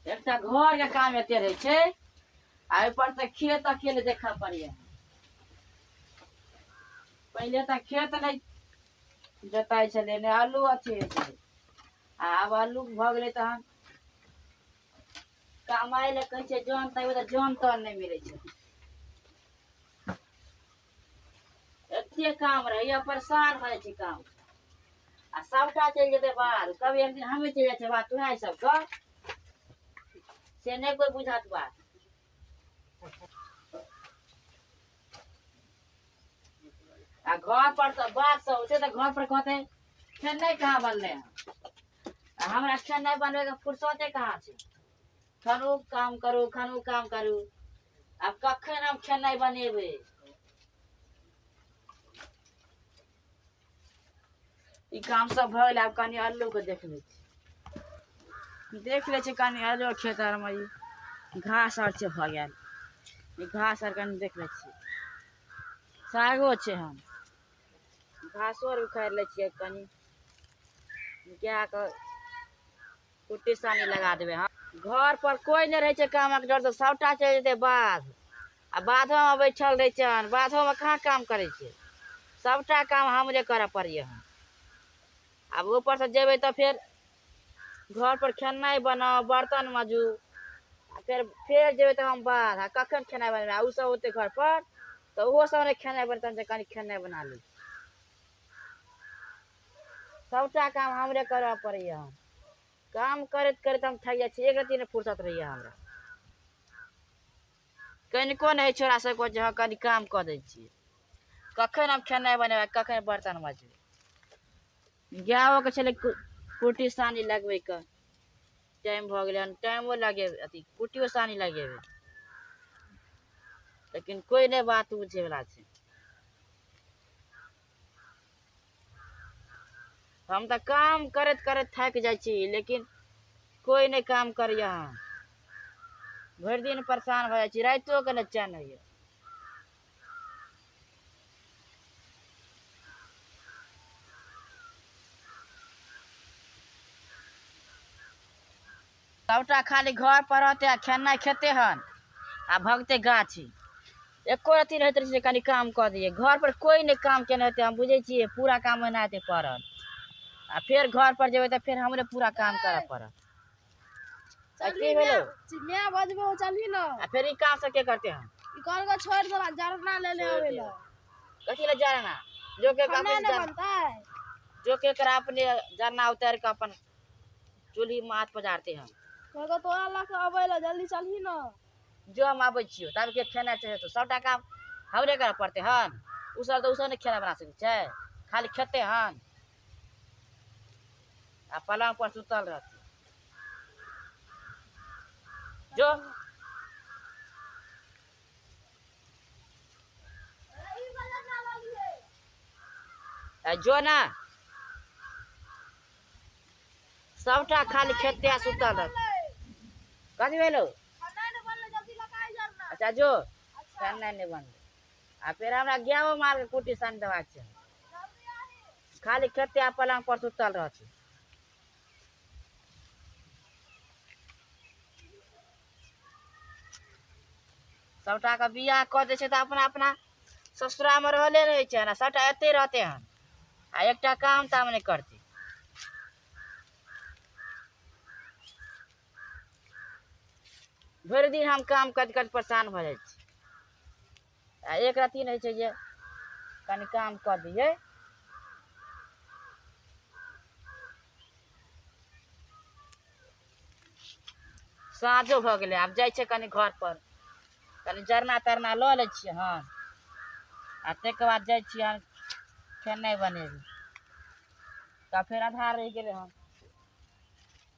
एकटा घर के काम एते रहे छै आ ऊपर से खेत अकेले देखा पड़िए पहले तऽ खेत नहि जोताइ छलै ने आलू अथी होइ छलै आ आब आलू भऽ गेलै तहन कमाइ लए कहै छै जन तैयो तऽ जन तन नहि मिलै छै एते काम रहैया परेशान भऽ जाइ छै काम आ सभटा चलि जेतै बाहर कभी एक दिन हमे चलि जाइ छै बात तुहे सभके से नहि कोइ बुझत बात आ घर पर तऽ बात सब होते तऽ घर पर कहते फेर नहि कहाँ बनले हँ आ हमरा फेर नहि बनबे के फुर्सते कहाँ छै खनू काम करू खनू काम करू आब कखन हम खेनाइ बनेबै ई काम सब भऽ गेलै आब कनि अल्लूके देखबै छी देख लै छी कनि अल्लू खेत आरमे ई घास आर छै भऽ गेल ई घास आर कनि देख लै छी सागो छै हम घासो आर उखाड़ि लै छियै कनि गायके कुट्टी सानी लगा देबै हँ घर पर कोई नहि रहै छै कामक डर तऽ सभटा चलि जेतै बाध आ बाधोमे बैठल रहै छै हन बाधोमे कहाँ काम करै छै सभटा काम हमरे करऽ पड़ैए हन आब ऊपरसँ जेबै तऽ फेर घर पर खेनाइ बनाउ बर्तन मजू आ फेर फेर जेबै तऽ हम बाध आ कखन खेनाइ बनेबै आ ओसभ ओते घर पर तऽ ओहो सभ नहि खेनाइ बर्तन जे कनि खेनाइ बना ली सभटा काम हमरे करय पड़ैए हम काम करैत करैत हम थाकि जाइ छी एक रत्ती नहि फुर्सत रहैए हमरा कनिको नहि होइ छै हमरा सभके जे हँ कनि काम कऽ दै छियै कखन हम खेनाइ बनेबै कखन बर्तन मजबै गायोके छलै कुट्टी सानी लगबैके टाइम भऽ गेलै हन टाइमो लगेबै अथी कुट्टियो सानी लगेबै लेकिन कोइ नहि बात बुझैवला छै हम तऽ काम करैत करैत थाकि जाइ छी लेकिन कोइ नहि काम करैए हम भरि दिन परेशान भऽ जाइ छी रातिओके नहि चैन होइए सभटा खाली घर पर रहते आ खेनाइ खेते हन आ भगते गाछी एको अथी रहैत रहै छै कनि काम कऽ दियै घर पर कोइ नहि काम केने हेतै हम बुझै छियै पूरा काम ओहिना हेतै पड़ल आ फेर घर पर जेबै तऽ फेर हमरे पूरा काम करऽ पड़त तऽ की भेलै चिड़िया बजबो चलही न आ फेर ई काम सब के करते हन ई घर को छोड़ देला जरना ले ले आवे ला कथी लए जाना जो के काम खाना न बनतै जो के करा अपने जाना उतार के अपन चूल्ही माथ पजारते हम कहलकै तोरा लऽ कऽ अबै लए जल्दी चलही ने जो हम आबै छियौ तब के खेनाइ छै तो सभटा काम हमरे करय पड़तै हन उसभ तऽ उसभ नहि खेनाइ बना सकै छै खाली खेतै हन आ पलंग पर सुतल रहतै जो आ जो ना सबटा खाली खेते सुतल रह कथी भेलो अच्छा जो अच्छा। ठंडा नहीं बनल आ फिर हमरा गेहूँ माल के कुटी सन देवा छै खाली खेते आ पलंग पर सुतल रह छै सभटाके बियाह कऽ दै छै तऽ अपना अपना ससुरामे रहले रहै छै आ सभटा एते रहतै हन आ एकटा काम ताम नहि करतै भरि दिन हम काम करि करि परेशान भऽ जाइ छी आ एक रत्ती नहि छै जे कनि काम कऽ दियै साँझो भऽ गेलै आब जाइ छै कनि घर पर कनि जरना तरना लऽ लै छियै हन आ ताहिके बाद जाइ छियै हन खेनाइ बनेबै तऽ फेर आधार रहि गेलै हन